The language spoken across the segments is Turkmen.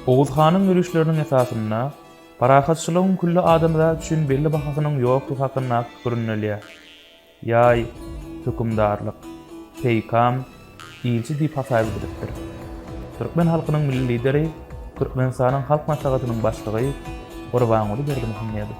Oguz hanyň ýörişleriniň esasynda parahatçylygyň külli adamzat üçin belli bahasynyň ýokdugy hakyndaky pikir ündelýär. Ýaý, hökümdarlyk, peýkam, ilçi diýip hasap edilipdir. Türkmen halkynyň Milli Lideri, Türkmenistanyň Halk Maslahatynyň Başlygy Gurbanguly Berdimuhamedow.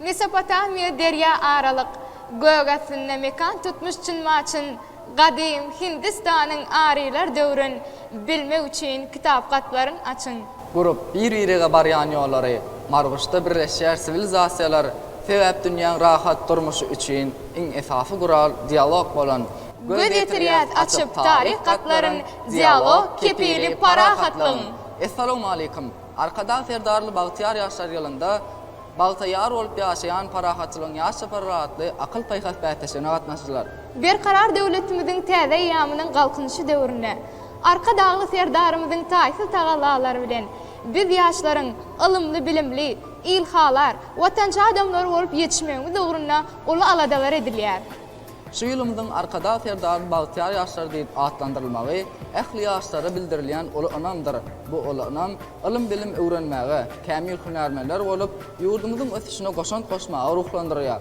Mesopotamiýa derýa aralyk gök astynda mekan tutmuş çyn-maçyn gadym Hindistanyň arylar döwrün bilmek üçin kitapgatlaryň açyň. Gurup, bir-birege barýan ýollary, Marguşda birleşýär siwilizasiýalar, Sebäp dünýäň rahat durmuşy üçin iň esasy gural dialog bolan, Göz ýetirýäs açyp taryh gatlaryn, Dialog, kepili parahatlygyň! Essalawmaleýkum! Arkadag Serdarly bagtyýar ýaşlar ýylynda bagta ýar bolup ýaşaýan Parahatçylygyň ýaş çapary atly akyl-paýhas bäsleşigine gatnaşdylar. Berkarar döwletimiziň täze eýýamynyň Galkynyşy döwründe Arkadagly Serdarymyzyň taýsyz tagallalary bilen biz ýaşlaryň ylymly-bilimli, ilhalar, watançy adamlar bolup ýetişmegimiz ugrunda uly aladalar edilýär. Şu ýylymyzyň Arkadag Serdaryň bagtyýar ýaşlary diýip atlandyrylmagy ähli ýaşlara bildirilýän uly ynamdyr. Bu uly ynam ylym-bilim öwrenmäge, kämil hünärmenler bolup, ýurdumyzyň ösüşine goşant goşmaga ruhlandyrýar.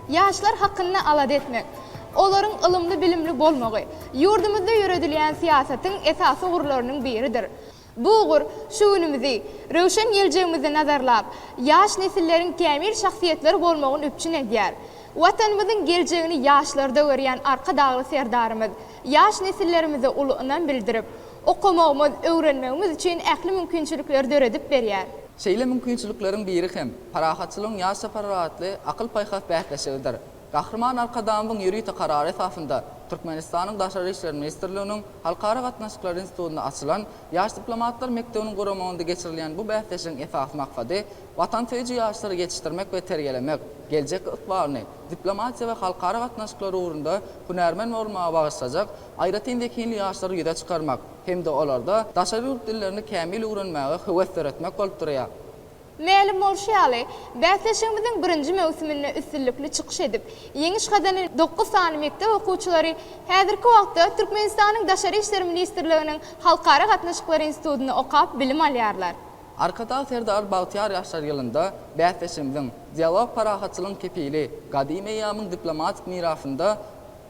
Ýaşlar hakynda alada etmek, olaryň ylymly-bilimli bolmagy, ýurdumyzda ýöredilýän syýasatyň esasy ugurlarynyň biridir. Bu ugur şu günümizi, röwşen geljegimizi nazarlap, ýaş nesilleriň kämil şahsyýetler bolmagyny üpjün edýär. Watanymyzyň geljegini ýaşlarda görýän Arkadagly Serdarymyz ýaş nesillerimize uly ynam bildirip, okamagymyz, öwrenmegimiz üçin ähli mümkinçilikleri döredip berýär. Şeýle mümkinçilikleriň biri hem Parahatçylygyň ýaş çaparlar atly akyl-paýhas bäsleşigidir. Gahryman Arkadagymyzyň ýörite karary esasynda Türkmenistanyň Daşary işler ministrliginiň Halkara gatnaşyklary institutynda açylan Ýaş diplomatlar mekdebiniň guramagynda geçirilýän bu bäsleşigiň esasy maksady watansöýüji ýaşlary ýetişdirmek we terbiýelemek, geljek ykbalyny diplomatiýa we halkara gatnaşyklary ugrunda hünärmen bolmaga bagyşlajak aýratyn zehinli ýaşlary ýüze çykarmak hem-de olarda daşary ýurt dillerini kämil öwrenmäge höwes döretmek bolup durýar. Mälim bolşy ýaly, bäsleşigimiziň birinji möwsüminde üstünlikli çykyş edip, ýeňiş gazanan dokuz sany mekdep okuwçylary häzirki wagtda Türkmenistanyň Daşary işler ministrliginiň Halkara gatnaşyklar institutynda okap bilim alýarlar. Arkadag Serdar bagtyýar ýaşlar ýylynda bäsleşigimiziň Dialog parahatçylygyň kepili, Gadymy eýýamyň diplomatik mirasynda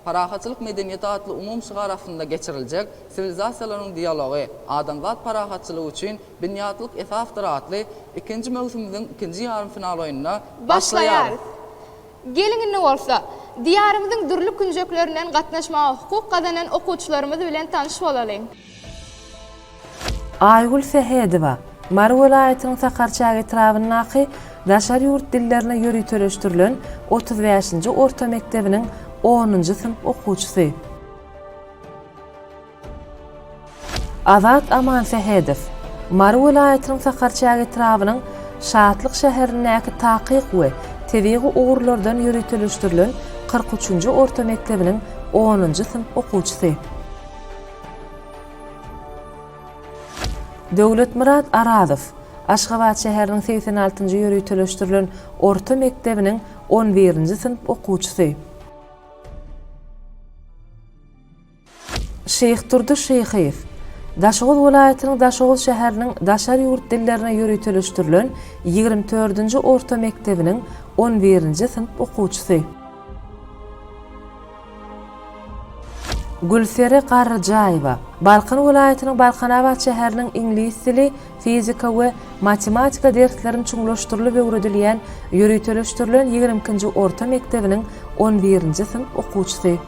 Parahatçylyk medeniýeti atly umumy şygar astynda geçiriljek Siwilizasiýalaryň dialogy, adamzat parahatçylygy üçin binýatlyk esasdyr atly ikinji möwsümimiziň ikinji ýarym final oýnuna başlaýarys. Geliň indi bolsa, Diýarymyzyň dürli künjeklerinden gatnaşmaga hukuk gazanan okuwçylarymyz bilen tanyş bolalyň. Aýgül Sähedowa, Mary welaýatynyň Sakarçäge etrabyndaky daşary ýurt dillerine ýöriteleşdirilen otuz bäşinji orta mekdebiniň onunjy synp okuwçysy. Azat Amansähedow, Mary welaýatynyň Sakarçäge etrabynyň Şatlyk şäherindäki takyk we tebigy ugurlardan ýöriteleşdirilen kyrk üçünji orta mekdebiniň onunjy synp okuwçysy. Döwletmyrat Arazow Aşgabat şäheriniň segsen altynjy ýöriteleşdirilen orta mekdebiniň on birinji synp okuwçysy. Şyhdurdy Şyhyýew Daşoguz welaýatynyň Daşoguz şäheriniň daşary ýurt dillerine ýöriteleşdirilen ýigrimi dördünji orta mekdebiniň on birinji synp okuwçysy. Gülsere Garryjaýewa, Balkan welaýatynyň Balkanabat şäheriniň iňlis dili, fizika we matematika derslerini çuňlaşdyrylyp öwredilýän ýöriteleşdirilen ýigrimi ikinji orta mekdebiniň on birinji synp okuwçysy.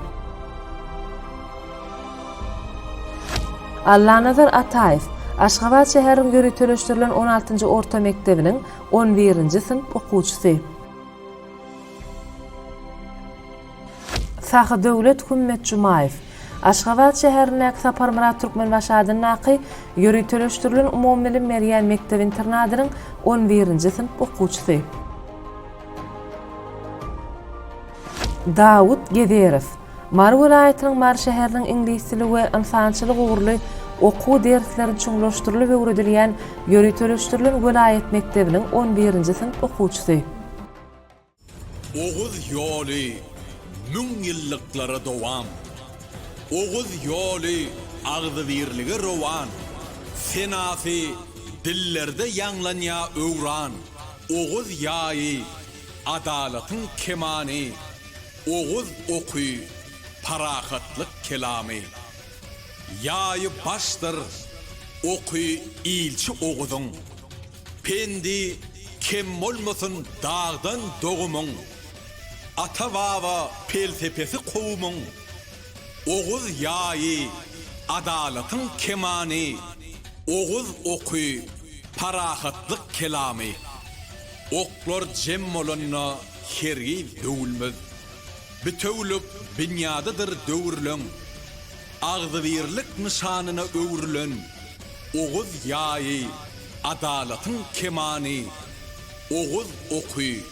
Allanazar Ataýew, Aşgabat şäheriniň ýöriteleşdirilen on altynjy orta mekdebiniň on birinji synp okuwçysy. Sahydöwlet Hümmetjumaýew Aşgabat şäherindäki Saparmyrat Türkmenbaşy adyndaky ýöriteleşdirilen umumybilim berýän mekdep-internadynyň on birinji synp okuwçysy. Dawut Gezerow Mary welaýatynyň Mary şäheriniň iňlis dili we ynsançylyk ugurly okuw dersleri çuňlaşdyrylyp öwredilýän ýöriteleşdirilen welaýat mekdebiniň on birinji synp okuwçysy. Oguz ýoly müň ýyllyklara dowam, Oguz ýoly agzybirlige rowan, Senasy dillerde ýaňlanýa öwran, Oguz ýaýy, adalatyň kemany, Oguz oky, parahatlyk kelamy. Ýaýy başdyr, oky ilçi Oguzyň, Pendi kem bolmasyn dagdan dogumyň, Ata-baba pelsepesi kowumyň, Oguz ýaýy, adalatyň kemany, Oguz oky, parahatlyk kelamy. Oklar jem bolanda hergiz döwülmez, Bitewülik binýadydyr döwürleň, Agzybirlik nyşanyna öwrülen, Oguz ýaýy, adalatyň kemany, Oguz oky,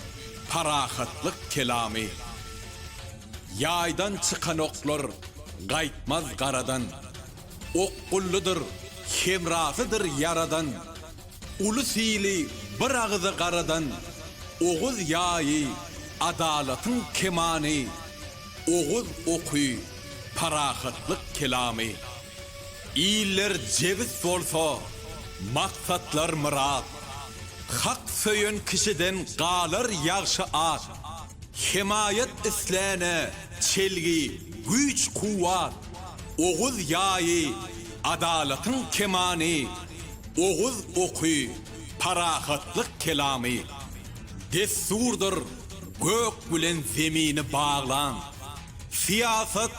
parahatlyk kelamy. Ýaýdan çykan oklar gaýtmaz garadan, Okgullydyr, hemrasydyr ýaradan, Ulus ili bir agyza garadan, Oguz ýaýy, adalatyň kemany, Oguz oky, parahatlyk kelamy. Iller jebis bolsa, maksatlar myrat. Hak söýen kişiden galar ýagşy at. Hemaýat isläne çelgi, güýç-kuwwat. Oguz ýaýy, adalatyň kemany. Oguz oky, parahatlyk kelamy. Dessurdyr gök bilen zemini baglan. Syýasat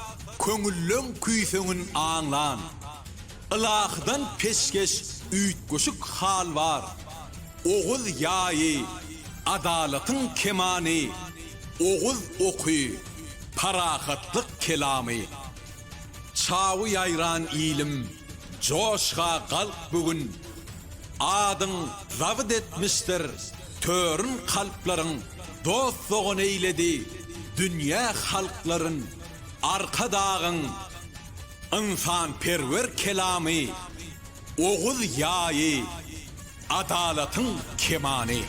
köňülleň küýseňin aňlan. Ylahydan peşgeş üýtgeşik hal bar. Oguz ýaýy, adalatyň kemany, Oguz oky, parahatlyk kelamy. Çawy ýaýran ilim, joşga galk bu gün, Adyň zabyt etmişdir Törün kalplaryň dost-dogan eýledi, dünýä halklaryn Arkadagyň ynsanperwer kelamy, oguz ýaýy, adalatyň kemany.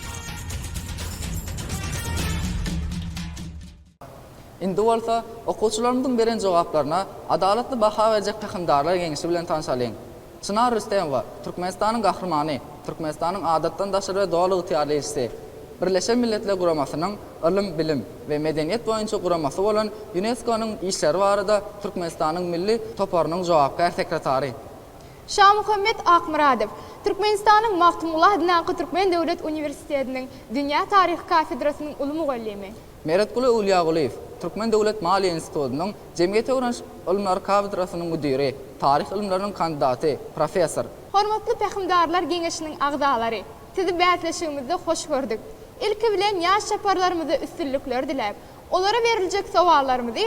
Indi bolsa, okuwçylarymyzyň beren jogaplaryna adalatly baha berjek Pähimdarlar geňeşi bilen tanşalyň. Çynar Rüstemowa, Türkmenistanyň Gahrymany, Türkmenistanyň Adatdan daşary we Doly ygtyýarly ilçisi, Birleşen Milletler Guramasynyň Ylym, bilim we medeniýet boýunça guramasy bolan Ýuneskonyň işleri barada Türkmenistanyň Milli toparynyň jogapkär sekretary. Şamuhammet Akmyradow, Türkmenistanyň Magtymguly adyndaky Türkmen döwlet uniwersitetiniň Dünýä taryhy kafedrasynyň uly mugallymy. Meretguly Öwlýägulyýew, Türkmen döwlet maliýe institutynyň Jemgyýete öwreniş ylymlary kafedrasynyň müdiri, taryh ylymlarynyň kandidaty, professor. Hormatly Pähimdarlar geňeşiniň agzalary! Sizi bäsleşigimizde hoş gördük. Ilki bilen ýaş çaparlarymyza üstünlikler diläp, olara beriljek sowallarymyzy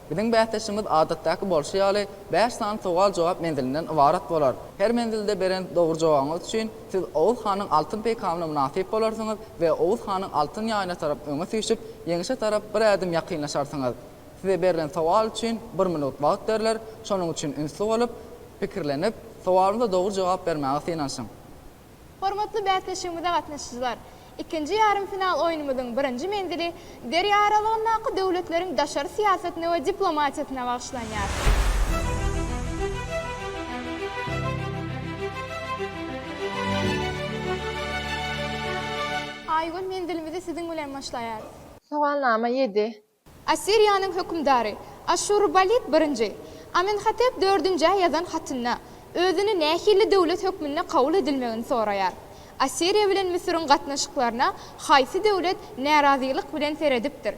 Biziň bäsleşigimiz adatdaky bolşy ýaly bäş sany sowal-jogap menzilinden ybarat bolar. Her menzilde beren dogry jogabyňyz üçin siz Oguz hanyň altyn peýkamyna mynasyp bolarsyňyz we Oguz hanyň altyn ýaýyna tarap öňe süýşüp, ýeňişe tarap bir ädim ýakynlaşarsyňyz. Size berlen sowal üçin bir minut wagt berler, şonuň üçin ünsli bolup, pikirlenip, sowalyňyza dogry jogap bermäge synanyşyň. Hormatly bäsleşigimize gatnaşyjylar! Ikinji ýarym final oýnumyzyň birinji menzili derýa aralygyndaky döwletleriň daşary syýasatyna we diplomatiýasyna bagyşlanýar. Aýgül, menzilimizi siziň bilen başlaýarys. Sowalnama ýedi. Assiriýanyň hökümdary Aşşurbalit birinji, Amenhotep dördünjä ýazan hatynda özüni nähili döwlet hökmünde kabul edilmegini soraýar. Assiriýa bilen Müsüriň gatnaşyklaryna haýsy döwlet närazylyk bilen seredipdir?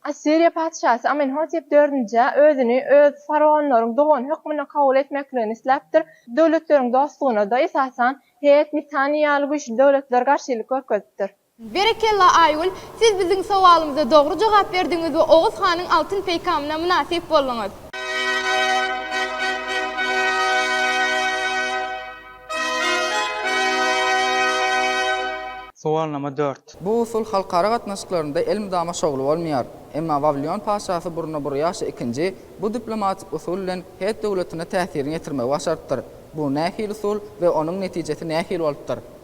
Assiriýa patyşasy Amenhotep dördünjä özüni öz faraonlaryň dogany hökmünde kabul etmekligini isläpdir. Döwletleriň dostlugyna-da, esasan, Het, Mitanýy ýaly güýçli döwletler garşylyk görkezipdir. Berekella Aýgül, siz biziň sowalymyza dogry jogap berdiňiz we Oguz hanyň altyn peýkamyna mynasyp bolduňyz. Sowalnama dört. Bu usul halkara gatnaşyklarynda elmydama şowly bolmaýar. Emma Wawilion patyşasy Burnaburýaşa ikinji bu diplomatik usul bilen het döwletine täsirini ýetirmegi başarypdyr. Bu nähili usul we onuň netijesi nähili bolupdyr?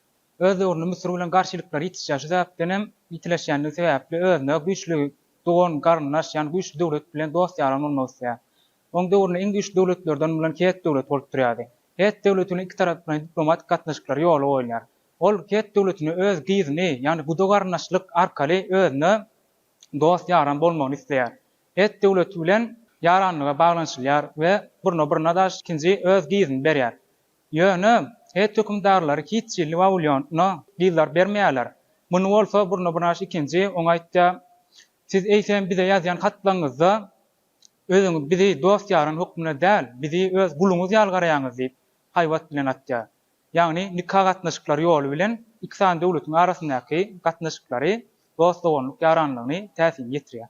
Öz döwründe Müsür bilen garşylyklary ýitişýär. Şu sebäpdenem ýitileşýändigi sebäpli özüne güýçli dogan, garyndaş, ýagny güýçli döwlet bilen dost-ýaran bolmak isleýär. Onuň döwründe iň güýçli döwletlerden bolan Het döwleti bolup durýardy. Het döwleti bilen ikitaraplaýyn diplomatik gatnaşyklary ýola goýulýar. Ol Het döwletine öz gyzyny, ýagny guda-garyndaşlyk arkaly özüne dost-ýaran bolmagyny isleýär. Het döwleti bilen ýaranlyga baglanyşylýar we Burna-Byrnadaş ikinji öz gyzyny berýär. Ýöne, het hökümdarlary hiç hili Wawilýona gyzlar bermeýärler. Muny bolsa Burnabynaş ikinji oňa aýtýar, Siz eýsem bize ýazýan hatlaryňyzda özüňiz bizi dost-ýaryň hökmünde däl, bizi öz guluňyz ýaly garaýaňyz diýip, haýbat bilen atýar. Ýagny nika gatnaşyklary ýoly bilen iki sany döwletiň arasyndaky gatnaşyklary dost-doganlyk ýaranlygyny täsin ýetirýär.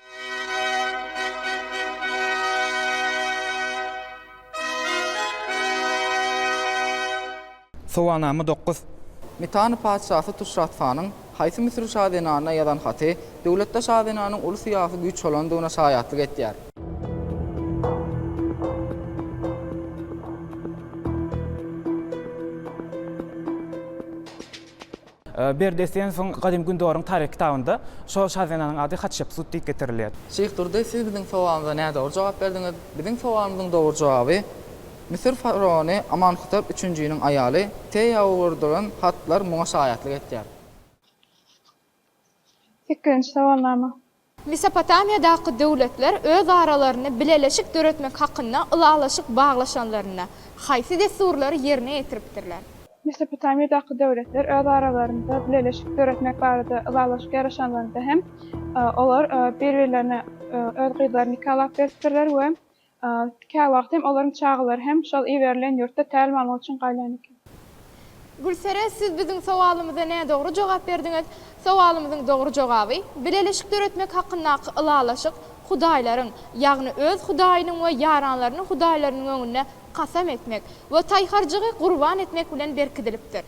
Sowalnama dokuz. Mitanna patyşasy Tuşratfanyň haýsy müsürli şazenana ýazan haty döwletde şazenanyň uly syýasy güýç bolandygyna şaýatlyk etýär? Berdi Esenowyň Gadymy Gündogaryň taryhy kitabynda şo şazenanyň ady Hatşepsut diýip getirilýär. Şyh Durdy, siz biziň sowalymyza nädogry jogap berdiňiz. Biziň sowalymyzyň dogry jogaby, Müsür faraony Amanhotep üçünjiniň aýaly Teýa ugurdyran hatlar muňa şaýatlyk etýär. Sekizinji sowalnama. Mesopotamiýadaky döwletler öz aralaryny bileleşik döretmek hakynda ylalaşyk baglaşanlarynda, haýsy dessurlary ýerine ýetiripdirler? Mesopotamiýadaky döwletler öz aralarynda bileleşik döretmek barada ylalaşyk ýaraşanlarynda hem, olar bir-birlerine öz gyzlaryny nikalap beripdirler we Käwagt hem olaryň çagalary hem şol iberilen ýurtda tälim almak üçin galýan eken. Gülsere, siz biziň sowalymyza nädogry jogap berdiňiz. Sowalymyzyň dogry jogaby, bileleşik döretmek hakyndaky ylalaşyk hudaýlaryň, ýagny öz hudaýynyň we ýaranlarynyň hudaýlarynyň öňünde kasam etmek we taýharjygy gurban etmek bilen berkidilipdir.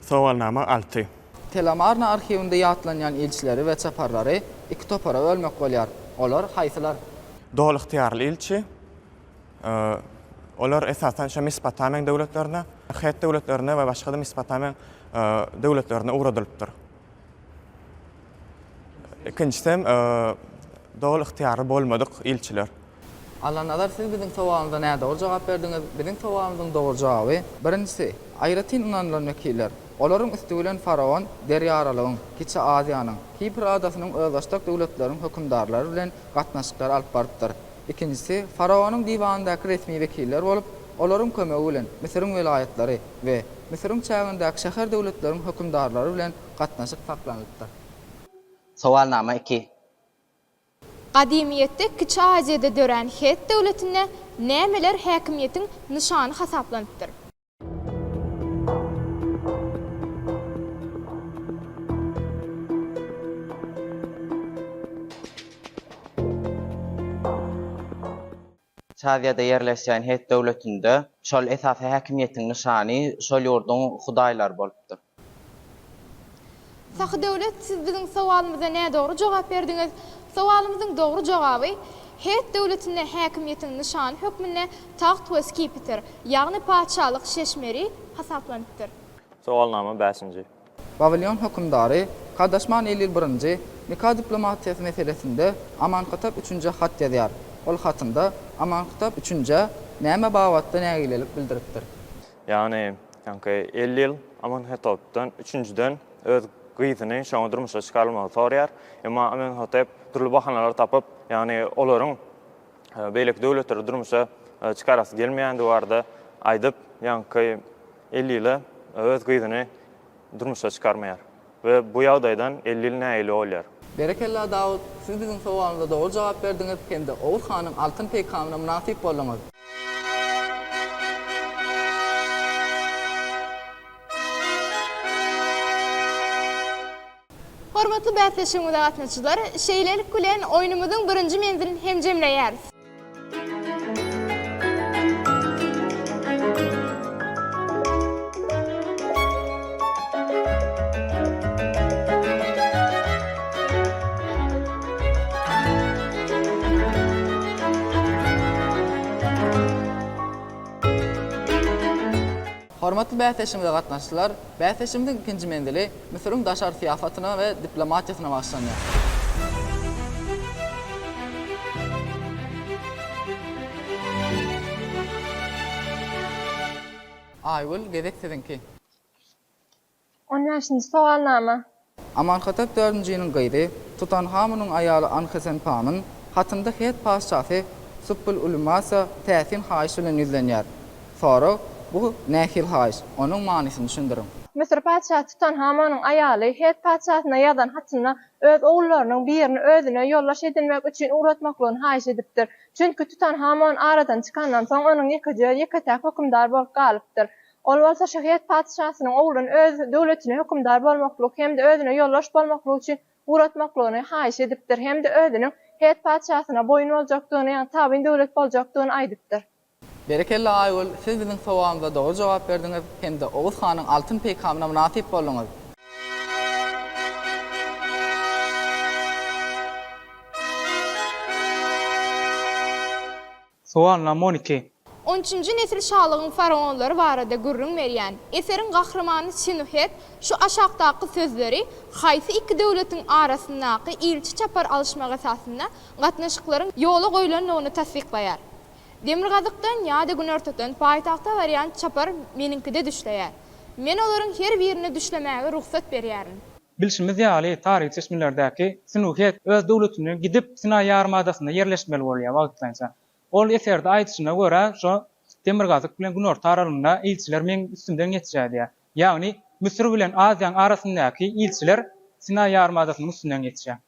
Sowalnama alty. Telomarna arhiwinde ýatlanýan ilçileri we çaparlary iki topara bölmek bolýar. Olar haýsylar? Doly ygtyýarly ilçi, olar esasan şo Mesopotamiýaň döwletlerine, het döwletlerine we başga-da Mesopotamiýaň döwletlerine ugradylypdyr. Ikinjisem, doly ygtyýarly bolmadyk ilçiler. Allanazar siz biziň sowalymyza nädogry jogap berdiňiz. Biziň sowalymyzyň dogry jogaby, birinjisi, aýratyn ynanylan wekiller, olaryň üsti bilen faraon Derýaralygyň, Kiçi Aziýanyň, Kipr adasynyň özbaşdak döwletleriň hökümdarlary bilen gatnaşyklary alyp barypdyr. Ikinjisi, faraonyň diwanyndaky resmi wekiller bolup, olaryň kömegi bilen Müsüriň welaýatlary we Müsüriň çägindäki şäher-döwletleriň hökümdarlary bilen gatnaşyk saklanylypdyr. Sowalnama iki. Gadymyýetde Kiçi Aziýada dörän Hett döwletinde nämeler häkimiýetiň nyşany hasaplanypdyr? Saziýada ýerleşýän Hett döwletinde şol esasy häkimiýetiň nyşany şol ýurduň hudaýlary bolupdyr. Sahydöwlet, siz biziň sowalymyza nädogry jogap berdiňiz. Sowalymyzyň dogry jogaby, Hett döwletinde häkimiýetiň nyşany hökmünde tagt we skipitr, ýagny patyşalyk şeşmeri hasaplanypdyr. Sowalnama bäşinji. Wawilýon hökümdary Kadaşman Elil I nika diplomatiýasy meselesinde Amankytap üçünjä hat ýazýar. Ol hatynda Amankytap üçünjä näme babatda nägilelik bildiripdir? Ýagny, ýaňky Elil Amanhetopdan üçünjiden öz gyzyny şoňa durmuşa çykarylmagy soraýar. Emma Amenhotep dürli bahanalar tapyp, ýagny olaryň beýleki döwletleri durmuşa çykarasy gelmeýändigi barada aýdyp, ýaňky elli ýyla öz gyzyny durmuşa çykarmaýar we bu ýagdaýdan elli ýyl nägile bolýar. Berekella Dawut, siz biziň sowalymyza dogry jogap berdiňiz hem-de Oguz hanyň altyn peýkamyna mynasyp bolduňyz. Hormatly bäsleşigimize gatnaşyjylar, şeýlelik bilen oýnumyzyň birinji menzilini hem jemleýäris. Hormatly bäsleşigimize gatnaşyjylar, bäsleşigimiziň ikinji menzili Müsüriň daşary syýasatyna we diplomatiýasyna bagyşlanýar. Aýgül, gezek siziňki. On bäşinji sowalnama. Amanhatep dördünjiniň gyzy Tutanhamunyň aýaly Anhesenpamyn hatynda Het patyşasy Supbul-Ulumasa täsin haýyş bilen ýüzlenýär. Sorag, Bu nähil haýyş? Onuň manysyny düşündiriň. Müsür patyşasy Tutanhamunyň aýaly Het patyşasyna ýazan hatynda öz ogullarynyň birini özüne ýoldaş edinmek üçin ugratmaklygyny haýyş edipdir. Çünki Tutanhamon aradan çykandan soň onuň ýekeje, ýeke-täk hökümdar bolup galypdyr. Ol bolsa şa Het patyşasynyň ogluny öz döwletine hökümdar bolmaklyk hem-de özüne ýoldaş bolmaklyk üçin ugratmaklygyny haýyş edipdir hem-de özüniň Het patyşasyna boýun boljakdygyny, ýagny tabyn döwlet boljakdygyny aýdypdyr. Berekella Aýgül, siz biziň sowalymyza dogry jogap berdiňiz hem-de Oguz hanyň altyn peýkamyna mynasyp bolduňyz. Sowal nom. On iki. On üçünji nesil şalygyň faraonlary barada gürrüň berýän eseriň gahrymany Sinuhet şu aşakdaky sözleri haýsy iki döwletiň arasyndaky ilçi-çapar alyşmak esasynda gatnaşyklaryň ýola goýlandygyny tassyklaýar, Demirgazykdan ýa-da günortadan paýtagta barýan çapar meniňkide düşleýär. Men olaryň her birine düşlemäge rugsat berýärin. Bilşimiz ýaly, taryhy çeşmelerdäki Sinuhet öz döwletini gidip Sinaý ýarymadasynda ýerleşmeli bolýar wagtlaýynça. Ol eserde aýdyşyna görä, şo demirgazyk bilen günorta aralygynda ilçiler meň üstümden geçýär diýýär. Ýagny, Müsür bilen Aziýaň arasyndaky ilçiler Sinaý ýarymadasynyň üstünden geçýär.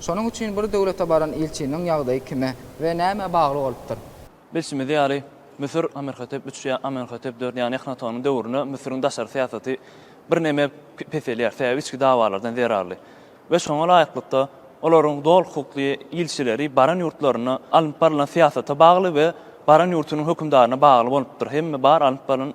Şonuň üçin bir döwlete baran ilçiniň ýagdaýy kime we nämä bagly bolupdyr? Bilşimiz ýaly, Müsür, Amenhotep üç ýa Amenhotep dört, ýagny Ehnatonyň döwründe Müsüriň daşary syýasaty birneme peselýär, sebäbi içki dawalardan zerarly we şoňa laýyklykda, olaryň doly hukukly ilçileri baran ýurtlarynda alnyp barylan syýasata bagly we baran ýurtunyň hökümdaryna bagly bolupdyr, hemme bar alnyp barylan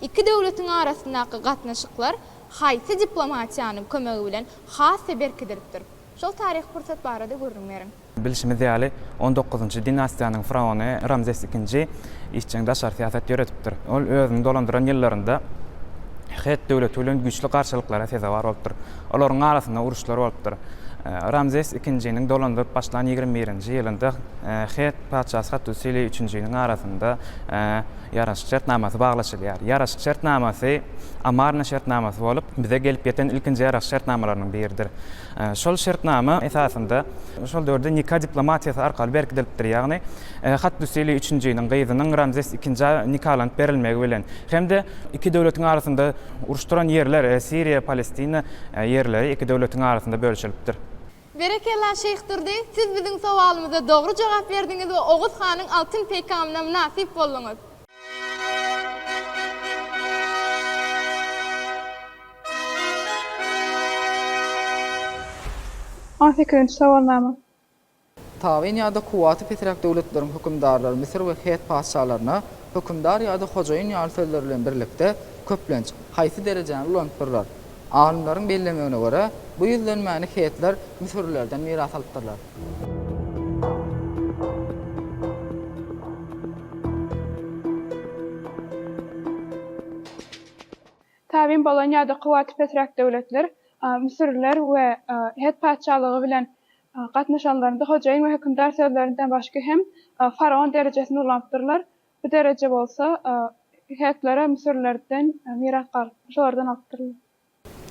Iki döwletiň arasyndaky gatnaşyklar haýsy diplomatiýanyň kömegi bilen has-da berkidilipdir? Şol taryhy pursat barada gürrüň beriň. Bilşimiz ýaly, on dokuzynjy dinastiýanyň faraony Ramzes II işjeň daşary syýasat ýöredipdir. Ol özüni dolandyran ýyllarynda Het döwleti bilen güýçli garşylyklara sezewar bolupdyr. Olaryň arasynda uruşlar bolupdyr. Ramzes II-niň dolandyryp başlan ýigrimi birinji ýylynda Het patyşasy Hattusili üçünjiniň arasynda Ýaraşyk şertnamasy baglaşylýar. Ýaraşyk şertnamasy Amarna şertnamasy bolup, bize gelip ýeten ilkinji ýaraşyk şertnamalarynyň biridir. Şol şertnama esasynda şol döwürde nika diplomatiýasy arkaly berkidilipdir, ýagny Hattusili üçünjiniň gyzynyň Ramzes ikinjä nikalanyp berilmegi bilen hem-de iki döwletiň arasynda uruşdyran ýerler, Siriýa, Palestina ýerleri iki döwletiň arasynda bölüşilipdir. Berekella Şeýh Durdy, siz biziň sowalymyza dogry jogap berdiňiz we Oguz hanyň altyn peýkamyna mynasyp bolduňyz. On sekizinji sowalnama. Tabyn ýa-da kuwwaty pesräk döwletleriň hökümdarlary Müsür we Het patyşalaryna hökümdar ýa-da hojaýyn ýaly sözler bilen birlikde, köplenç, haýsy derejäni ulanypdyrlar? Alymlaryň bellemegine görä, bu ýüzlenmäni hetler müsürlilerden miras alypdyrlar. Tabyn bolan ýa-da kuwwaty pesräk döwletler müsürliler we het patyşalygy bilen gatnaşanlarynda hojaýyn we hökümdar sözlerinden başga hem faraon derejesini ulanypdyrlar. Bu dereje bolsa heklere müsürlerden miras galypdyr. Şolardan alypdyrlar.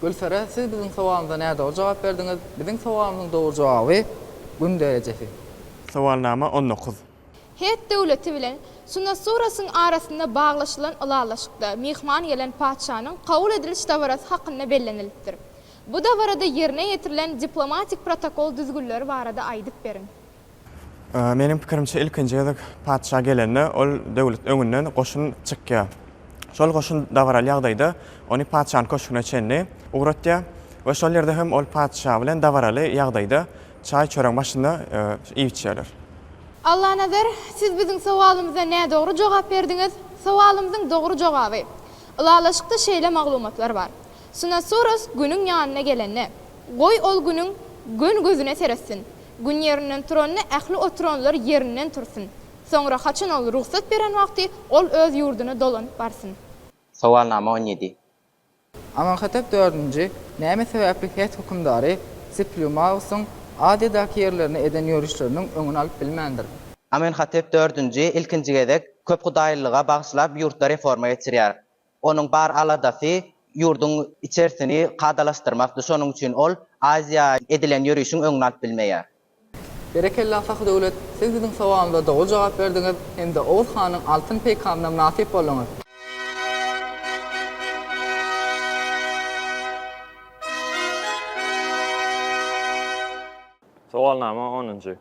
Gülsara, siz biziň sowalymyza nädogry jogap berdiňiz. Biziň sowalymyzyň dogry jogaby, Gün derejesi. Sowalnama on dokuz. Hett döwleti bilen Sunasurasyn arasynda baglaşylan ylalaşykda myhman gelen patyşanyň kabul ediliş dabarasy hakynda bellenilipdir. Bu dabarada ýerine ýetirilen diplomatik protokol düzgünleri barada aýdyp beriň. Meniň pikirimçe, ilkinji gezek patyşa gelende, ol döwlet öňünden goşun çykýar. Şol goşun dabaraly ýagdaýda ony patyşanyň köşgüne çenli ugratýar we şol ýerde hem ol patyşa bilen dabaraly ýagdaýda çaý-çöregiň başynda iýip içýärler. Allanazar, siz biziň sowalymyza nädogry jogap berdiňiz. Sowalymyzyň dogry jogaby, Ylalaşykda şeýle maglumatlar bar. Sunasoros günüň ýanyna gelende, goý ol günüň göni gözüne seretsin. Gün ýerinden turanda ähli oturanlar ýerinden tursun. Soňra haçan ol rugsat beren wagty ol öz ýurduna dolanyp barsyn. Sowalnama on ýedi. Amonhatep dördünji näme sebäpli het hökümdary Siplumagusyň Aziýadaky ýerlerine eden ýörişleriniň öňüni alyp bilmändir? Amenhotep dördünji ilkinji gezek köphudaýlylyga bagyşlap ýurtda reforma geçirýär. Onuň bar aladasy ýurduň içersini kadalaşdyrmakdy, şonuň üçin ol Aziýa edilen ýörişiň öňüni alyp bilmeýär. Berekella Sahy Döwlet, siz biziň sowalymyza doly jogap berdiňiz hem-de Oguz hanyň altyn peýkamyna mynasyp bolduňyz. Sowalnama onunjy.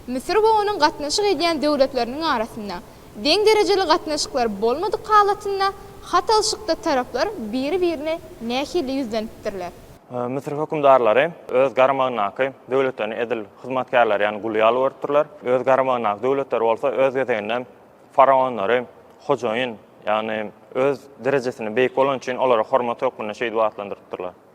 Müsür we onuň gatnaşyk edýän döwletleriniň arasynda deň derejeli gatnaşyklar bolmadyk halatynda hat alşykda taraplar biri-birine nähili ýüzlenipdirler? Müsür hökümdarlary öz garamagyndaky döwletlerini edil hyzmatkärleri ýaly gul ýaly görüpdirler. Öz garamagyndaky döwletler bolsa öz gezeginde faraonlary hojaýyn, ýagny öz derejesinde beýik bolany üçin olary hormat hökmünde şeýdip atlandyrypdyrlar.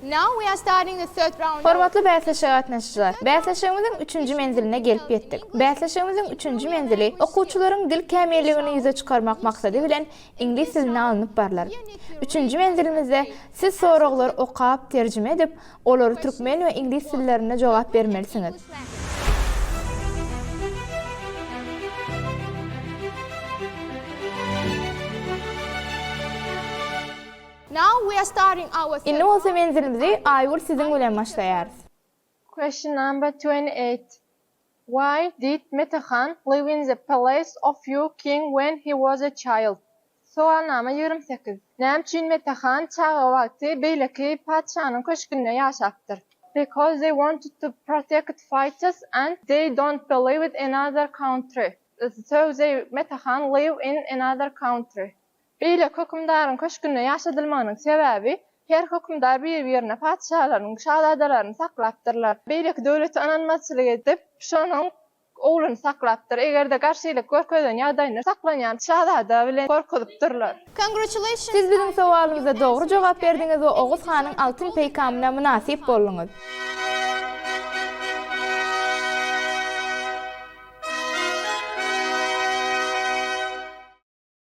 Now we are starting the third round. Hormatly bäsleşige gatnaşyjylar! Bäsleşigimiziň üçünji menziline gelip ýetdik. Bäsleşigimiziň üçünji menzili okuwçylaryň dil kämilligini ýüze çykarmak maksady bilen iňlis dilinde alnyp barlar. Üçünji menzilimizde siz soraglary okap, terjime edip, olary türkmen we iňlis dillerinde jogap bermelisiňiz. Indi bolsa menzilimizi Aýgül siziň bilen başlaýarys. Question number twenty eight, Why did Metehan live in the palace of Ýu king when he was a child? Sowalnama ýigrimi sekiz, Näme üçin Metehan çaga wagty beýleki patyşanyň köşgünde ýaşapdyr? Because they wanted to protect fighters and they don't believed another country, so they Metehan live in another country. Beýleki hökümdaryň köşgünde ýaşadylmagynyň sebäbi, her hökümdar bir-birine patyşalaryny, şazadalaryny saklapdyrlar. Beýleki döwlete ynanmazçylyk edip, şonuň ogluny saklapdyr. Eger-de garşylyk görkezen ýagdaýynda saklanýan şazada bilen gorkuzypdyrlar. Siz biziň sowalymyza dogry jogap berdiňiz we Oguz hanyň altyn peýkamyna mynasyp bolduňyz.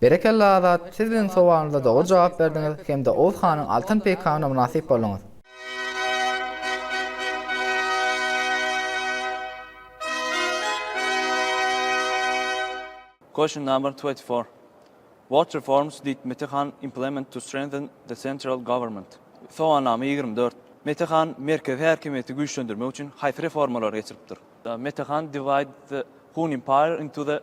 Berekella Azat siz biziň sowalymyza dogry jogap berdiňiz hemde Oguz hanyň altyn peýkamyna mynasyp bolduňyz. Question number twenty four, What reforms did Mete Khan implement to strengthen the central government? Sowalnama ýigrimi dört, Mete Khan merkezi häkimiýeti güýçlendirmek üçin haýsy reformalary geçiripdir? Mete Khan divide the Hun Empire into the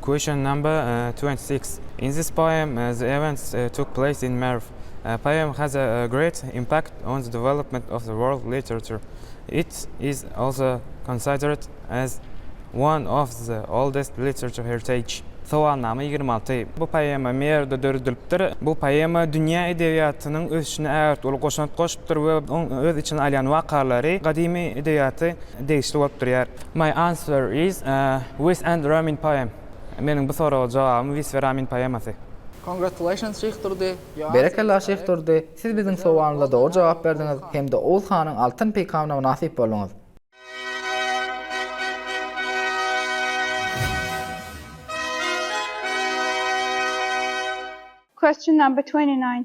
Question number twenty six, In this poem the events took place in Merw. Poem has a great impact on the development of the world literature. It is also considered as one of the oldest literature heritage. Sowalnama ýigrimi alty, Bu poema Merwde döredilipdir. Bu poema dünýä edebiýatynyň ösüşine ägirt uly goşant goşupdyr we oň öz içine alýan wakalary gadymy edebiýaty degişli bolup durýar. My answer is, Wis and Ramin poem. Meniň bu soraga jogabym Wis we Ramin poemasy. Congratulations Şyh Durdy. Berekella Şyh Durdy, siz biziň sowalymyza dogry jogap berdiňiz hem-de Oguz hanyň altyn peýkamyna mynasyp bolduňyz. Question number twenty nine,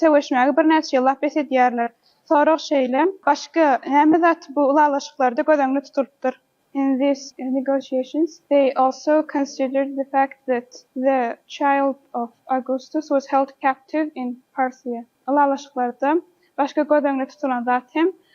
Söweşmäge birnäçe ýyllap bes edýärler. Sorag şeýle, başga näme zat bu ylalaşyklarda göz öňünde tutulypdyr? In these negotiations they also considered the fact that the child of Augustus was held captive in Parthia. Ylalaşyklarda başga göz öňünde tutulan zat hem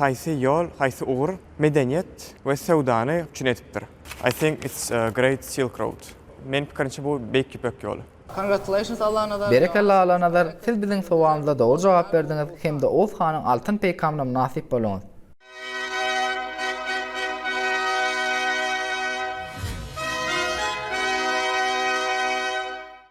Haýsy ýol, haýsy ugur medeniýet we söwdany üpjün edipdir? I think it's a great silk road. Meniň pikirimçe bu Beýik Ýüpek ýoly. Congratulations Allanazar! Berekella Allanazar, siz biziň sowalymyza dogry jogap berdiňiz hem-de Oguz hanyň altyn peýkamyna mynasyp bolduňyz.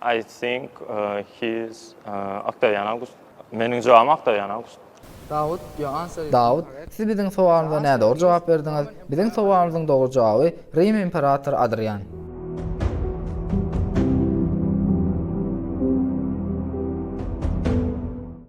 I think he is Octavian August. Meniň jogabym Octavian August. Dawut, your answer is incorrect. Dawut, siz biziň sowalymyza nädogry jogap berdiňiz. Biziň sowalymyzyň dogry jogaby Rim imperatory Adrian.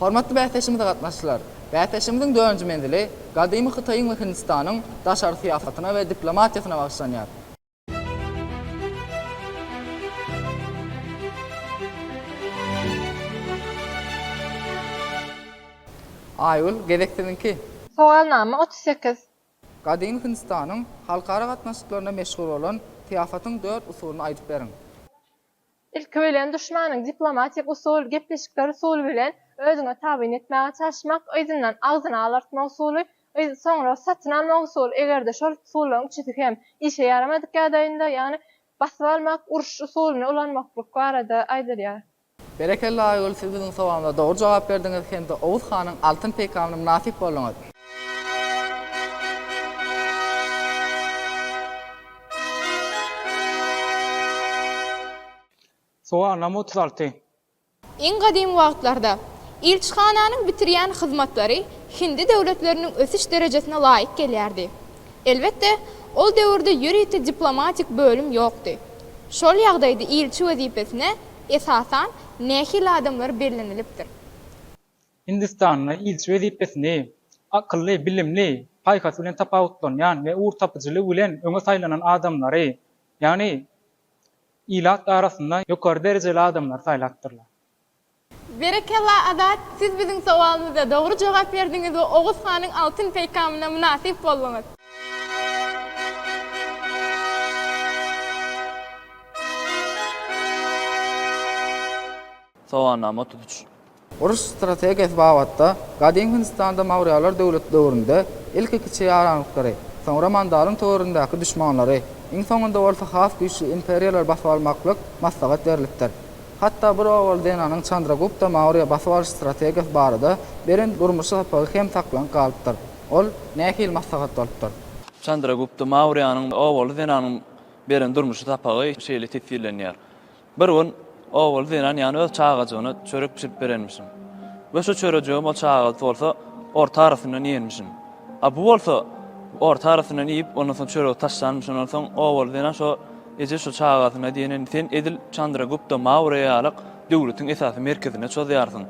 Hormatly bäsleşigimize gatnaşyjylar! Bäsleşigimiziň dördünji menzili gadymy Hytaýyň we Hindistanyň daşary syýasatyna we diplomatiýasyna bagyşlanýar. Aýgül, gezek siziňki. Sowalnama otuz sekiz. Gadymy Hindistanyň halkara gatnaşyklarynda meşhur bolan syýasatyň dört usulyny aýdyp beriň. Ilki bilen duşmanyň diplomatik usul, gepleşikler usuly bilen özüňe tabyn etmäge çalyşmak, yzyndan agzyny alartma usuly, yz, soňra satyn almak usuly, eger-de şol usullaryň üçüsi hem işe ýaramadyk ýagdaýynda, ýagny basyp almak, uruş usulyny ulanmaklyk barada aýdylýar. Berekella Aýgül siz biziň sowalymyza dogry jogap berdiňiz hem-de Oguz hanyň altyn peýkamyna mynasyp bolduňyz. Sowagnama otuz alty. Iň gadymy wagtlarda, ilçihananyň bitirýän hyzmatlary hindi döwletleriniň ösüş derejesine laýyk gelýärdi. Elbetde, ol döwürde ýörite diplomatik bölüm ýokdy. Şol ýagdaýda ilçi wezipesine, esasan, nähili adamlar bellenilipdir? Hindistanda ilçi wezipesini akylly, bilimli, paýhas bilen tapawutlanýan we ugurtapyjylygy bilen öňe saýlanan adamlary, ýagny ilat arasynda ýokary derejeli adamlary saýlapdyrlar. Berekella Azat, siz biziň sowalymyza dogry jogap berdiňiz we Oguz hanyň altyn peýkamyna mynasyp bolduňyz. Soganama tutuş Uruş strategiýasy babatda Gadymy Hindistanda Maurýalar döwleti döwründe ilki kiçi ýaranlyklary, soňra Mandalyň töweregindäki duşmanlary, iň soňunda bolsa has güýçli imperiýalary basyp almaklyk maslahat berlipdir. Hatda bir owaly zenanyň Çandragupta Maurýa basyp alyş strategiýasy barada beren durmuşy sapagy hem saklanyp galypdyr. Ol nähili maslahat bolupdyr? Çandragupta Maurýanyň owaly zenanyň beren durmuşy sapagy şeýle teswirlenýär. Bir gün Ogul zenan ýany öz çagajygyna çörek bişirip berenmişin. We şu çörejigem ol çagasy bolsa orta arasyndan iýenmişin. A bu bolsa orta arasyndan iýip, ondan soň çöregi taşlanmyş. Ondan soň Ogul zenan şo eje şu çagasyna diýenini sen edil Çandragupta Maurýa ýalyk döwletiň esasy merkezine çozýarsyň.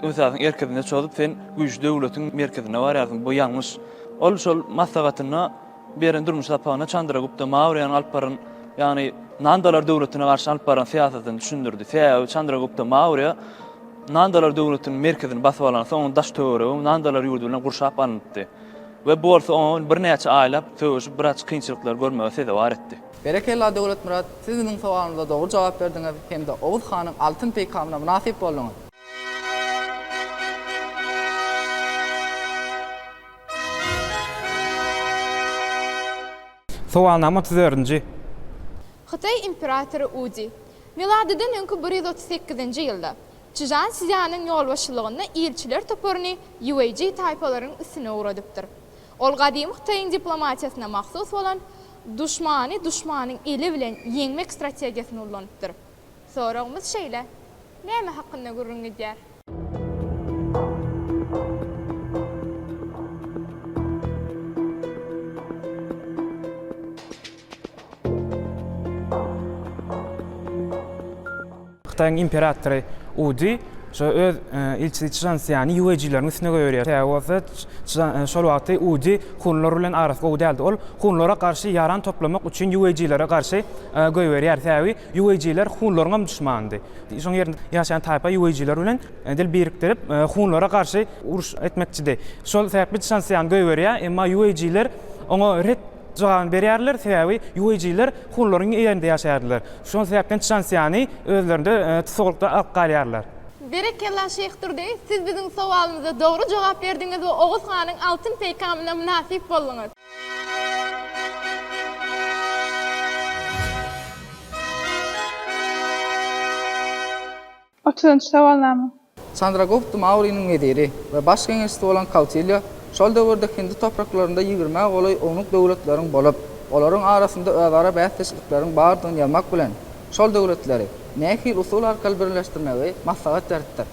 Esasyň erkezine çozup sen güýçli döwletiň merkezine barýarsyň. Bu ýalňyş. Ol şol maslahatynda. beren durmuş sapagynda Çandra Gupta Maurýanyň alyp baran, ýagny Nandalar döwletine garşy alyp baran syýasatyny düşündirdi. Sebäbi Çandra Gupta Maurýa Nandalar döwletiniň merkezini basyp alansoň, onuň daş-töweregi Nandalar ýurdy bilen gurşap alnypdy we bu bolsa oňa birnäçe aýlap söweşip, biraz kynçylyklary görmegi sezewar etdi. Berekella Döwletmyrat, siz biziň sowalymyza dogry jogap berdiňiz hem-de Oguz hanyň altyn peýkamyna mynasyp bolduňyz. Sowalnama otuz dördünji. Hytaý imperatory Udi. Miladydan öňki bir ýüz otuz sekizinji ýylda, Çžan Szýanyň ýolbaşçylygynda ilçiler toparyny Ýueýji taýpalaryň üstüne ugradypdyr. Ol gadymy Hytaýyň diplomatiýasyna mahsus bolan duşmany duşmanyň eli bilen ýeňmek strategiýasyny ullanypdyr. Soragymyz şeýle, Näme hakynda gürrüň gidýär? Hytaýyň imperatory U Di şo öz ilçisi Çžan Sýany ýuejileriň üstüne goýberýär. Sebäbi bolsa Çžan şol wagty U Di hunlar bilen arasy gowy däldi. Ol hunlara garşy ýaran toplamak üçin ýuejilere garşy goýberýär. Sebäbi Ýuweýjiler hunlaryňam duşmanydy. Şoň ýerinde ýaşaýan taýpa ýuweýjiler bilen dil birikdirip, hunlara garşy uruş etmekçidi. Şol sebäpli Çžanszýan goýberýär, emma ýuweýjiler oňa ret jogabyny berýärler, sebäbi ýuweýjiler hunlaryň ýerinde ýaşaýardylar. Şol sebäpden Çžanszýany özlerinde tussaglykda alyp galýarlar. Berekella Şeýh Durdy, siz biziň sowalymyza dogry jogap berdiňiz we Oguz hanyň altyn peýkamyna mynasyp bolduňyz. Otuzynjy sowalnama. Çandragupta Mauriniň weziri we baş geňeşçisi bolan Kautýilýa şol döwürde Hindi topraklarynda ýigrimä golaý ownuk döwletleriň bolup, olaryň arasynda özara bäsdeşlikleriň bardygyny ýazmak bilen, şol döwletleri nähili usul arkaly birleşdirmegi maslahat beripdir.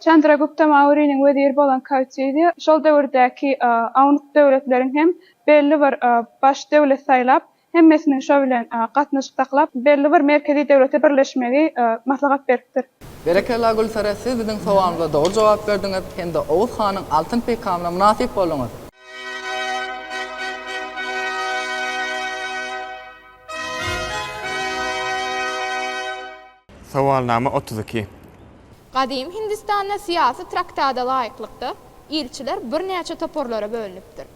Çandragupta Mauriniň weziri bolan Kautidýa şol döwürdäki awnuk döwletleriň hem belli bir baş döwlet saýlap, hemmesiniň şo bilen gatnaşyk saklap, belli bir merkezi döwlete birleşmegi maslahat beripdir. Berekella Gülsere siz biziň sowalymyza dogry jogap berdiňiz hem-de Oguz hanyň altyn peýkamyna mynasyp bolduňyz. Sowalnama otuz iki. Gadym Hindistanda syýasy traktada laýyklykda, ilçiler birnäçe toparlara bölünipdir.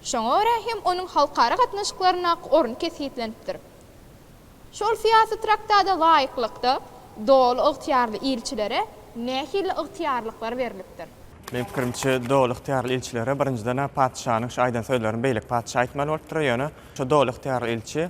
Şoňa görä hem onuň halkara gatnaşyklaryndaky orny kesgitlenipdir. Şol syýasy traktada laýyklykda, doly ygtyýarly ilçilere nähili ygtyýarlyklar berlipdir? Meniň pikirimçe, doly ygtyýarly ilçilere, birinjiden-ä, patyşanyň şu aýdan sözlerini beýleki patyşa aýtmaly bolupdyr, ýöne şu doly ygtyýarly ilçi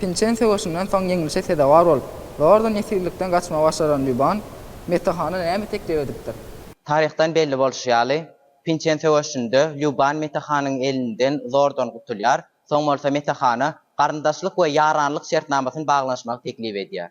Pinçen söweşinden soň ýeňlişe sezewar bolup, zordan ýesirlikden gaçmagy başaran Lýuban Mete hana näme teklip edipdir? Taryhdan belli bolşy ýaly, Pinçen söweşinde Lýuban Mete hanyň elinden zordan gutulýar, soň bolsa Mete hana garyndaşlyk we ýaranlyk şertnamasyny baglanyşmagy teklip edýär.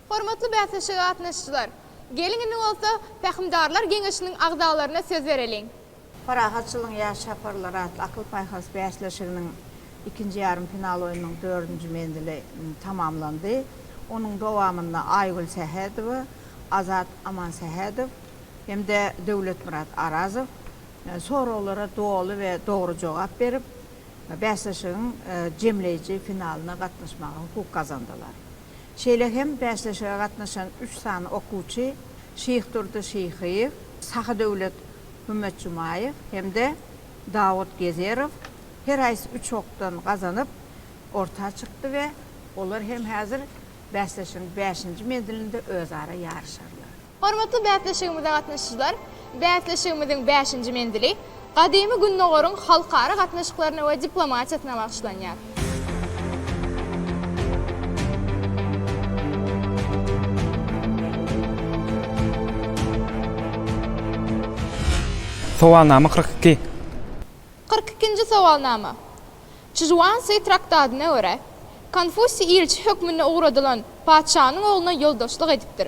Hormatly bäsleşige gatnaşyjylar! Geliň indi bolsa Pähimdarlar geňeşiniň agzalaryna söz bereliň. Parahatçylygyň ýaş çaparlary atly akyl-paýhas bäsleşiginiň ikinji ýarym final oýnunyň dördünji menzili tamamlandy. Onuň dowamynda Aýgül Sähedowa, Azat Amansähedow hem-de Döwletmyrat Arazow soraglara doly we dogry jogap berip, bäsleşigiň jemleýji finalyna gatnaşmaga hukuk gazandylar. Şeýle hem bäsleşige gatnaşan üç sany okuwçy Şyhdurdy Şyhyýew, Sahydöwlet Hümmetjumaýew hem-de Dawut Gezerow her haýsy üç okdan gazanyp, orta çykdy we olar hem häzir bäsleşigiň bäşinji menzilinde özara ýaryşarlar. Hormatly bäsleşigimize gatnaşyjylar, bäsleşigimiziň bäşinji menzili Gadymy Gündogaryň halkara gatnaşyklaryna we diplomatiýasyna bagyşlanýar. Sowalnama kyrk iki. Kyrk ikinji sowalnama. Çžuansi traktadyna görä, Konfusiý ilçi hökmünde ugradylan patyşanyň ogluna ýoldaşlyk edipdir.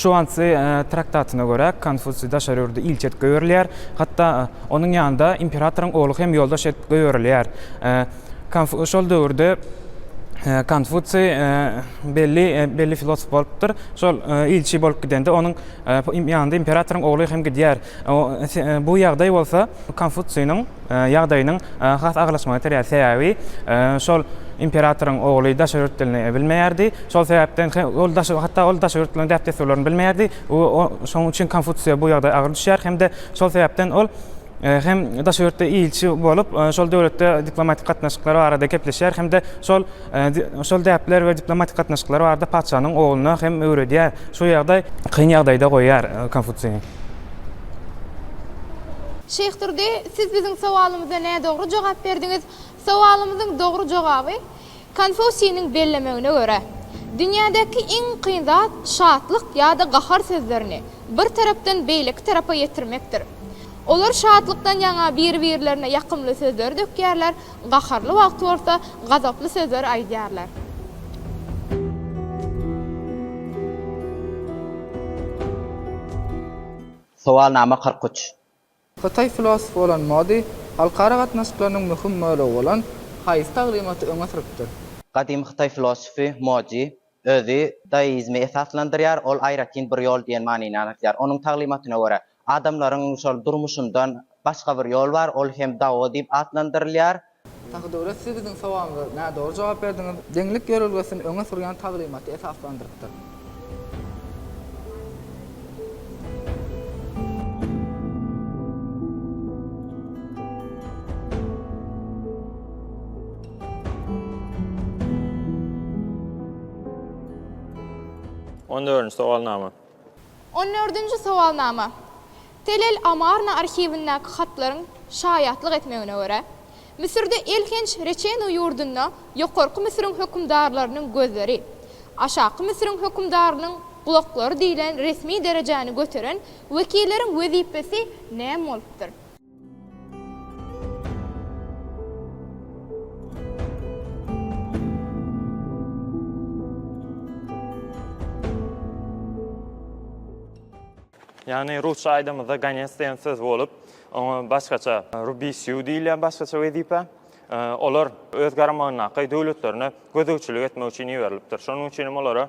Şuansi traktatyna görä, Konfusiý daşary ýurda ilçi edip goýberilýär, hatda onuň ýanynda imperatoryň ogly hem ýoldaş edip goýberilýär. Şol döwürde Konfusiý belli belli filosof bolupdyr. Şol ilçi bolup gidende onuň ýanynda imperatoryň ogly hem gidýär. Bu ýagdaý bolsa Konfutsiýnyň ýagdaýynyň has agyrlaşmagyna itirýär. Sebäbi şol imperatoryň ogly daşary ýurt dilini bilmeýärdi. Şol sebäpden ol daşary hatda ol daşary ýurtlaryň däp-dessurlaryny bilmeýärdi. Şonuň üçin Konfutsiýa bu ýagdaý agyr düşýär hem-de şol sebäpden ol hem daşary ýurtda ilçi bolup, şol döwletde diplomatik gatnaşyklar barada gepleşýär hem-de şol Şol däpler we diplomatik gatnaşyklar barada patyşanyň ogluna hem öwredýär. Şu ýagdaý kyn ýagdaýda goýýar Konfusini. Şeýh Durdy, siz biziň sowalymyza nädogry jogap berdiňiz. Sowalymyzyň dogry jogaby, Konfusiniň bellemegine görä, dünýädäki iň kyn zat şatlyk ýa-da gahar sözlerini bir tarapdan beýleki tarapa ýetirmekdir. Olar şatlykdan ýaňa biri-birlerine ýakymly sözleri dökýärler, Gaharly wagty bolsa gazaply sözler aýdýarlar. Sowalnama kyrk üç. Hytaý filosofy bolan Mo Di halkara gatnaşyklarynyň möhüm bölegi bolan haýsy taglymaty öňe sürüpdir? Gadymy hytaý filosofy Mo Di özi daoizmi esaslandyrýar, ol aýratyn bir ýol diýen manyny aňladýar. Onuň taglymatyna görä, Adamlaryň şol durmuşyndan başga bir ýol bar, ol hem Dao diýip atlandyrylýar. Sahy döwlet siz biziň sowalymyza nädogry jogap berdiňiz. Deňlik ýörelgesini öňe sürýän taglymaty esaslandyrypdyr. On dördünji sowalnama. On dördünji sowalnama. Telel Amarna arhiwindäki hatlaryň şaýatlyk etmegine görä, Müsürde elhenç Reçenu ýurdunda Ýokarky Müsüriň hökümdarlarynyň gözleri, Aşaky Müsüriň hökümdarynyň gulaklary diýlen resmi derejäni göteren wekilleriň wezipesi näme bolupdyr? Yani Rusça aýdamyzda gonec diýen söz bolup, oňa başgaça rubisiu diýilýär başgaça wezipe. Olar öz garamagyndaky döwletlerine gözegçilik etmek üçin iberilipdir. Şonuň üçin hem olara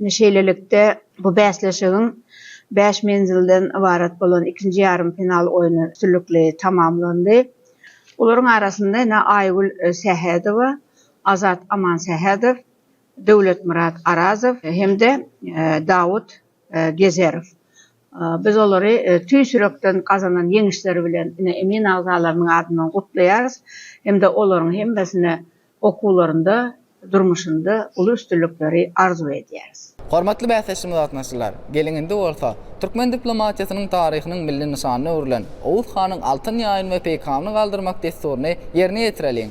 Ine şeýlelikde, bu bäsleşigiň bäş menzilden ybarat bolan ikinji ýarym final oýny üstünlikli tamamlandy. Olaryň arasynda ine Aýgül Sähedowa, Azat Amansähedow, Döwletmyrat Arazow hem-de Dawut Gezerow. Biz olary tüýs ýürekden gazanan ýeňişleri bilen ine emin agzalarynyň adyndan gutlaýarys hem-de olaryň hemmesine okuwlarynda, durmuşynda uly üstünlikleri arzuw edýäris. Hormatly bäsleşigimize gatnaşyjylar! Geliň indi bolsa, türkmen diplomatiýasynyň taryhynyň milli nyşanyna öwrülen Oguz hanyň altyn ýaýyny we peýkamyny galdyrmak dessuryny ýerine ýetireliň!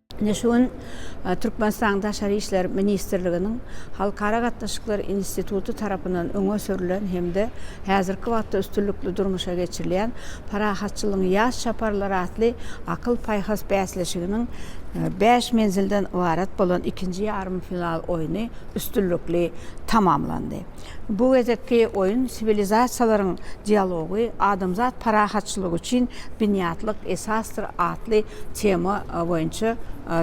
Ine şu gün Türkmenistanyň Daşary işler ministrliginiň Halkara gatnaşyklary instituty tarapyndan öňe sürlen hem-de häzirki wagtda üstünlikli durmuşa geçirilýän Parahatçylygyň ýaş çaparlary atly akyl-paýhas bäsleşiginiň bäş menzilden ybarat bolan ikinji ýarym final oýny üstünlikli tamamlandy. Bu gezekki oýun Siwilizasiýalaryň dialogy, adamzat parahatçylygy üçin binýatlyk esasdyr atly tema boýunça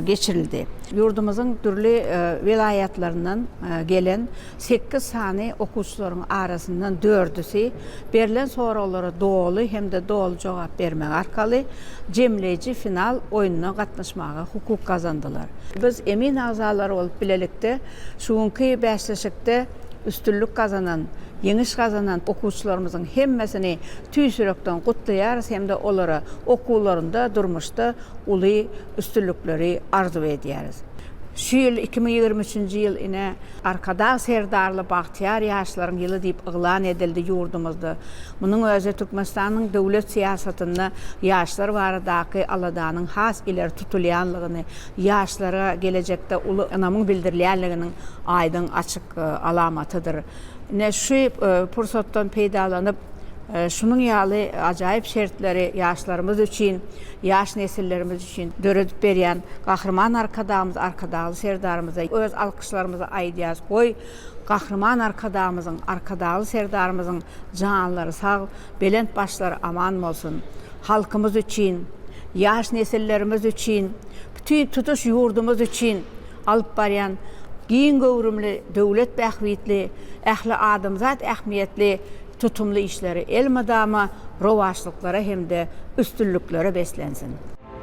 geçirildi. Ýurdumyzyň dürli welaýatlaryndan gelen sekiz sany okuwçylaryň arasyndan dördüsi berlen soraglara doly hem-de doly jogap bermek arkaly jemleýji final oýnuna gatnaşmaga hukuk gazandylar. Biz emin agzalary bolup bilelikde Şu günki bäsleşikde üstünlik gazanan, ýeňiş gazanan okuwçylarymyzyň hemmesini tüýs ýürekden gutlaýarys hem-de olara okuwlarynda, durmuşda uly üstünlikleri arzuw edýäris. Şu ýyl, iki müň ýigrimi üçünji ýyl ine, Arkadag Serdarly bagtyýar ýaşlaryň ýyly diýip yglan edildi ýurdumyzda. Munuň özi Türkmenistanyň döwlet syýasatynda ýaşlar baradaky aladanyň has ileri tutulýanlygyny, ýaşlara gelejekde uly ynamyň bildirilýänliginiň aýdyň açyk alamatydyr. Ine, şu pursatdan peýdalanyp, şunuň ýaly ajaýyp şertleri ýaşlarymyz üçin, ýaş nesillerimiz üçin döredip berýän Gahryman Arkadagymyz Arkadagly Serdarymyza öz alkyşlarymyzy aýdýarys. Goý, Gahryman Arkadagymyzyň, Arkadagly Serdarymyzyň janlary sag, belent başlary aman bolsun! halkymyz üçin, ýaş nesillerimiz üçin, bütin tutuş ýurdumyz üçin alyp barýan giň göwrümli döwlet bähbitli, ähli adamzat ähmiýetli tutumly işleri elmydama rowaçlyklara hem-de üstünliklere beslensin!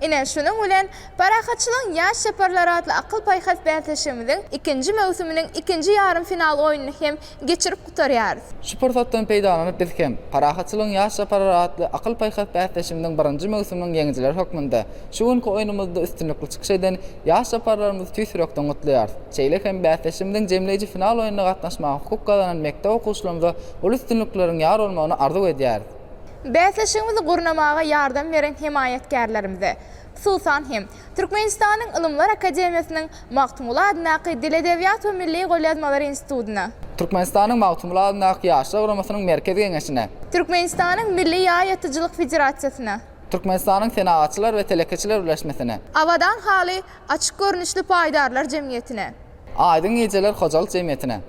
Ine, şunuň bilen Parahatçylygyň ýaş çaparlary atly akyl-paýhas bäsleşigimiziň ikinji möwsüminiň ikinji ýarym final oýnuny hem geçirip gutarýarys. Şu pursatdan peýdalanyp biz hem Parahatçylygyň ýaş çaparlary atly akyl-paýhas bäsleşigimiziň birinji möwsüminiň ýeňijileri hökmünde şu günki oýnumyzda üstünlikli çykyş eden ýaş çaparlarymyzy tüýs ýürekden gutlaýarys. Şeýle hem bäsleşigimiziň jemleýji final oýnuna gatnaşmaga hukuk gazanan mekdep okuwçylarymyza uly üstünlikleriň ýar bolmagyny arzuw edýäris. Bäsleşigimizi gurnamaga ýardam beren hemaýatkärlerimize, hususan hem, Türkmenistanyň Ylymlar akademiýasynyň Magtymguly adyndaky Dil-edebiýat we milli golýazmalar institutyna, Türkmenistanyň Magtymguly adyndaky Ýaşlar guramasynyň Merkezi geňeşine, Türkmenistanyň Milli ýaý atyjylyk federasiýasyna, Türkmenistanyň Senagatçylar we telekeçiler birleşmesine. Abadan haly açyk görnüşli paýdarlar jemgyýetine. Aýdyň gijeler hojalyk jemgyýetine.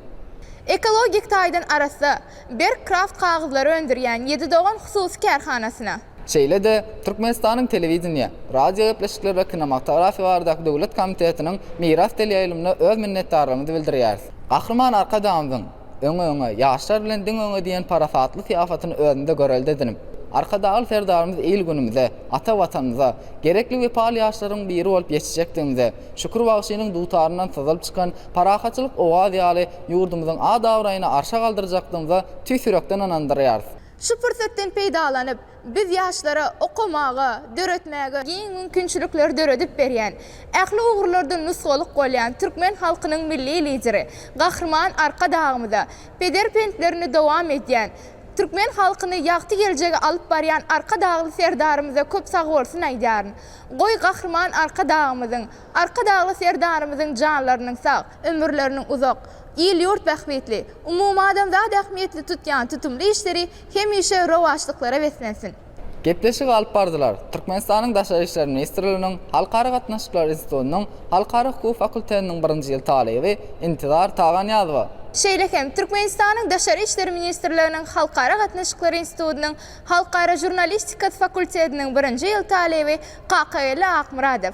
Ekologik taýdan arassa, berk kraft kagyzlary öndürýän Ýedi dogan hususy kärhanasyna. Şeýle-de, Türkmenistanyň Telewideniýe, radiogepleşikler we kinomatografiýa baradaky döwlet komitetiniň Miras teleýaýlymyna öz minnetdarlygymyzy bildirýäris. Gahryman Arkadagymyzyň, Öňe, öňe, ýaşlar bilen diňe öňe diýen parasatly syýasatyny özünde görelde edinip, Arkadagly Serdarymyz il-günümize, ata Watanymyza, gerekli wepaly ýaşlaryň biri bolup ýetişjekdigimize, Şükür bagşynyň dutaryndan syzylyp çykan parahatçylyk owazy ýaly ýurdumyzyň ad-abraýyny arşa galdyrjakdygymyza tüýs ýürekden ynandyrýarys. Şu pursatdan peýdalanyp, Biz ýaşlara okamaga, döretmäge giň mümkinçilikleri döredip berýän, ähli ugurlarda nusgalyk bolýan türkmen halkynyň Milli Lideri Gahryman Arkadagymyza, pederpentlerini dowam edýän, türkmen halkyny ýagty geljege alyp barýan Arkadagly Serdarymyza köp sagbolsun aýdýaryn. Goý, Gahryman Arkadagymyzyň, Arkadagly Serdarymyzyň janlarynyň sag, ömürleriniň uzak, il-ýurt bähbitli, umumadamzat ähmiýetli tutýan tutumly işleri Hemişe rowaçlyklara beslensin! Gepleşigi alyp bardylar. Türkmenistanyň Daşary işler ministrliginiň Halkara gatnaşyklar institutynyň Halkara hukugy fakulteniniň birinji ýyl talyby Intizar Taganyýazowa, Şeýle hem, Türkmenistanyň Daşary işler ministrliginiň Halkara gatnaşyklar institutynyň Halkara žurnalistikasy fakultetiniň birinji ýyl talyby Kakageldi Akmyradow,